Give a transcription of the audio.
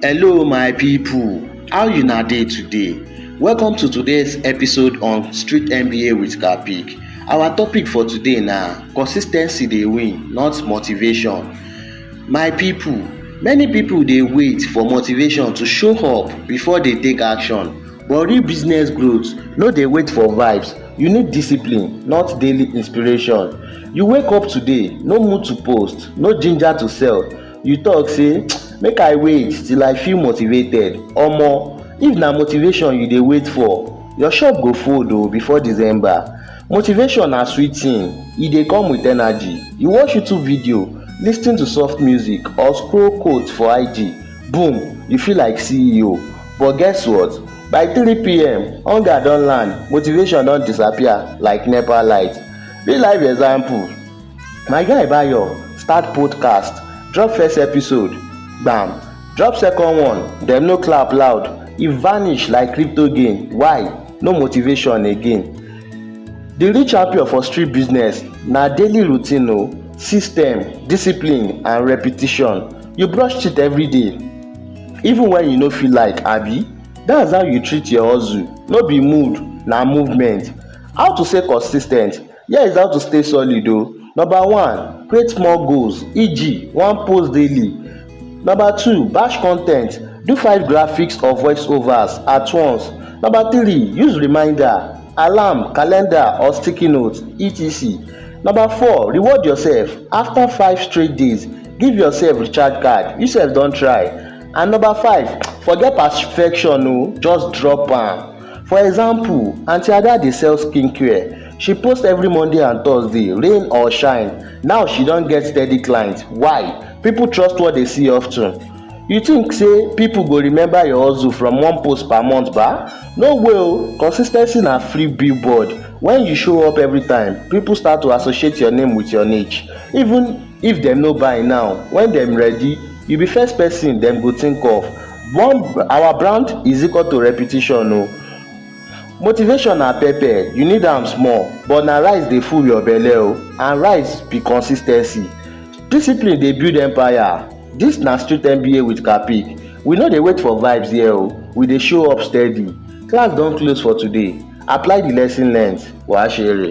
Hello my people, how una dey today? Welcome to today's episode on Street MBA with Kapik. Our topic for today na consistency dey win, not motivation. My people, many people dey wait for motivation to show up before they take action. But real business growth no dey wait for vibes. You need discipline, not daily inspiration. You wake up today, no mood to post, no ginger to sell, you talk say make i wait till i feel motivated omo if na motivation you dey wait for your shop go fold o before december motivation na sweet thing e dey come with energy you watch youtube video lis ten to soft music or scroll quote for ig boom you feel like ceo but guess what by 3pm hunger don land motivation don disappear like nepa light real life example My guy Bayo start podcast, drop first episode, gbam, drop second one, dem no clap loud, e vanish like crypto gain, why? No motivation again. The real champion for street business na daily routine o, system, discipline and repetition. You brush teeth every day, even when you no feel like abi? That's how you treat your hustle, no be mood, na movement. How to stay consis ten t? Here is how to stay solid o. Number one, create small goals eg one post daily. Number two, batch con ten t do five graphics or voice overs at once. Number three, use reminder, alarm, calendar or sticky note etc. Number four, reward yourself after five straight days give yourself recharge card you sef don try. And number five, forget perfection o just drop am. For example, Aunty Ada dey sell skincare. She post every Monday and Thursday, rain or shine. Now she don get steady clients. Why? People trust what they see often. You think say people go remember your hustle from one post per month ba? No way o! Consistency na free billboard. When you show up every time, people start to associate your name with your niche. Even if dem no buy now when dem ready you be first person dem go think of one our brand is equal to repetition o motivation na pepper you need am small but na rice dey full your belle o and rice be consis ten cy discipline dey build empire this na street MBA with Kapic we no dey wait for vibes here o we dey show up steady class don close for today apply the lesson learnt wàá ṣe èrè.